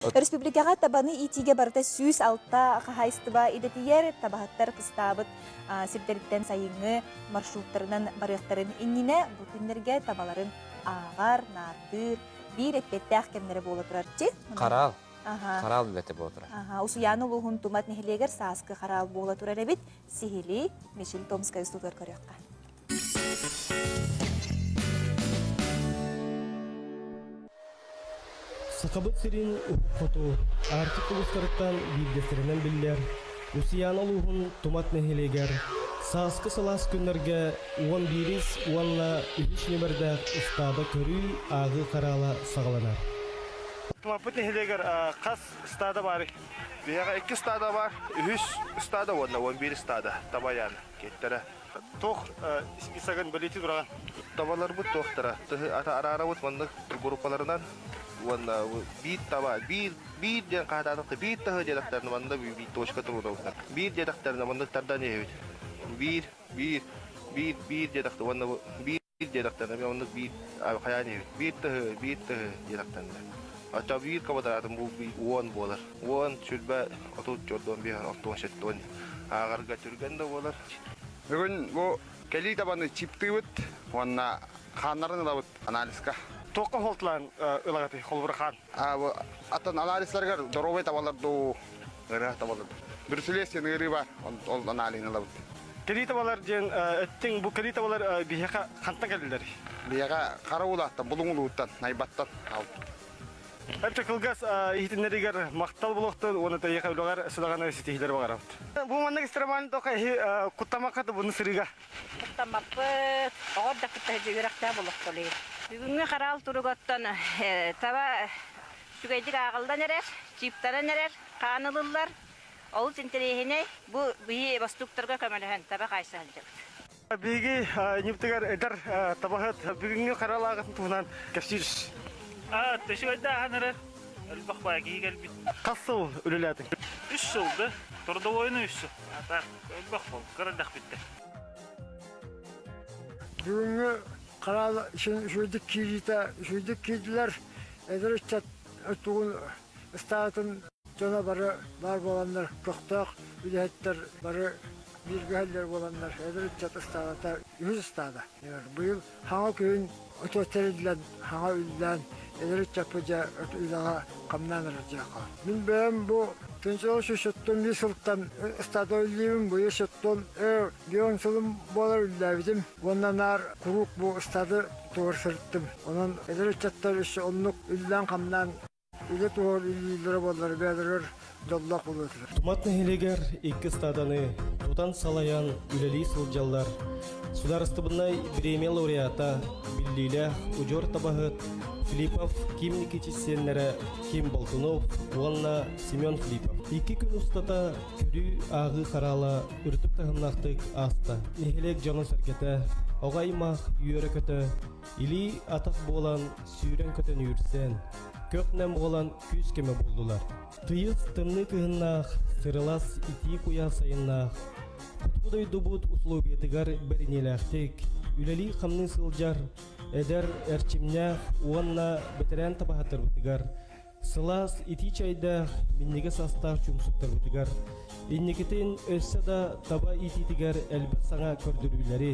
Республикаҕа табаны иитиигэ барыта сүүс алта хаһаайыстыба идэтийэр, табаһыттар кыстаабыт сирдэриттэн сайыҥҥы маршруттарынан барыахтарын иннинэ бу күннэргэ табаларын ааҕар, наардыыр, биир эппиэттээх кэмнэрэ буола турар. Чи? Хараал. Хараал үлэтэ буола турар. Усуйаана улууһун Тумат нэһилиэгэр сааскы хараал буола турар эбит. Сиһилии Мишель Томскай устутугар көрүөххэ. Сахабыт сирин уһук хоту Арктик улуустарыттан биирдэстэринэн биллэр Усуйаана улууһун Тумат нэһилиэгэр сааскы сылаас күннэргэ уон биирис уонна үһүс ньүмэрдээх ыстааба көрүү ааҕыы хараала саҕаланар. Тумаппыт нэһилиэгэр хас стада баар? Биһиэхэ икки стада бар, үһүс стада уонна уон биир стада табайаан киттэрэ Туох списогын бэлиэтии тураҕын? Табаларбыт туохтара? Тыһы араарабыт маннык группаларынан уонна биир таба биир биир диэн хаһаатаатахта биир таһы диэтэхтэринэ манна биир точка туруорабыттар биир диэтэхтэринэ маннык тардан иһэбит биир биир биир биир диэтэхтэ уонна биир диэтэхтэрэ мен оннук биир хайаан диир биир тыһы биир тыһы диэтэхтэринэ оччо биир кабадаатын булбуй уон буолар уон сүлбэ отут чордон биир ортон сеттон аагарга түргэн да буолар бүгүн бу кэлии табаны чиптыыбыт уонна хааннарын ылабыт анализка туохха холтулаан ылаҕытый холбура хаан Атын анализларыгар доровый табалар дуу, ырыа табалар Брюселесин ыарыы бар, ол анализын ылабыт. Кирии табалар диэн эттиҥ бу кирии табалар биһиэхэ хантан кэлдилэр? Биһиэхэ хара уулааттан, булуҥулууттан, найбаттан аалбыт. Эпчи кылгас иһитиннэригэр махтал булуохтун уонна тэйиэхэ үлэҕэр сыдаҕаны ситиһиилэри баҕарабыт. Бу маннык истраманы тоха эһи куттамакка табыны сырыыга Муктаммаппыт. Оҕо эрдэ кытта сылдьыы үрэхтээх олохтолуй. Бүгүҥҥү хараал туругуттан таба үчүгэйдик ааҕыллан эрэр, чииптанан эрэр, хаан ылыллар. Олус интэриэһинэй. Бу биһи бостууктарга көмөлөһөн таба хаайса сылдьабыт. Биһиги ньыптыгар эдэр табаһыт бүгүҥҥү хараал ааҕытын туһунан кэпсиир. Аа, төсүгэрдэ ааһан эрэр. Элбэх баай киһи кэлбит. Хас сыл үлэлээтиҥ? Үс сыл да. Трудовойну үс сыл. Онно холка эрдэхпиттэн. Бүгүҥҥү хараал сүүрдүк киириитэ сүүрдүк киирдилэр. Эдэр ыччат тугун ыстаатын дьоно бары баар буоланнар көхтөөх үлэһиттэр бары бииргэ иһэллэр буоланнар эдэр ыччат ыстаадата үһүс ыстаада. Быйыл Саҥа күн очуот тэриллэн, саҥа үллээн, эдэр ыччаппыдьа үлэҕэ хамнаан эрэр дьиэхэ. Мин бэйэм бу түнсүҕү сүүсүттэн биир сылтан стадолиибын быйыл сыттым, өр дион сылым буолар үллээбитим уонна наар куруук бу стады туора сырыттым. Онон эдэр ыччаттар өссө оннук үллээн-хамнаан Үлэ туһа билиилэрэ буоллар бэйэлэригэр дьоллоох буолуохтар. Тумат нэһилиэгэр икки стаданы тутан салайан үлэлии сылдьаллар. Судаарыстыбыннай бириэмэ лауреата, биллиилээх удьуор табаһыт Филиппов Ким Никитич сиэннэрэ Ким Болтунов уонна Семен Филиппов. Икки күн устата көрүү ааҕыы хараала үрдүк таһымнаахтык ааста. Нэһилиэк дьоно-сэргэтэ, оҕо аймах үөрэ-көтө Илии атах буолан сүүрэн көтөн үүрсэн, көх-нэм буолан күүс көмө буллулар. Тыйыс тымныы кыһыннаах, сырылас итии куйах сайыннаах, хоту дойдубут усулуобуйатыгар бэриниэлээхтик үлэлии-хамныы сылдьар эдэр эрчимнээх уонна бэтэрээн табаһыттарбытыгар Сылаас итии чайдаах минньигэ састаах чумсуктарбытыгар, инникитин өссө да таба иитиитигэр элбэх саҥа көрдөрүүлэри,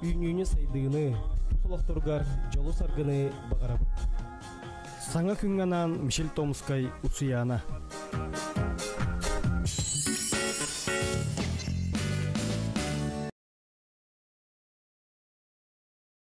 үүнүүнү-сайдыыны, тус олохторугар дьолу саргыны баҕарабыт. Саҥа күҥҥэ анаан Мишель Томскай Уцуяна.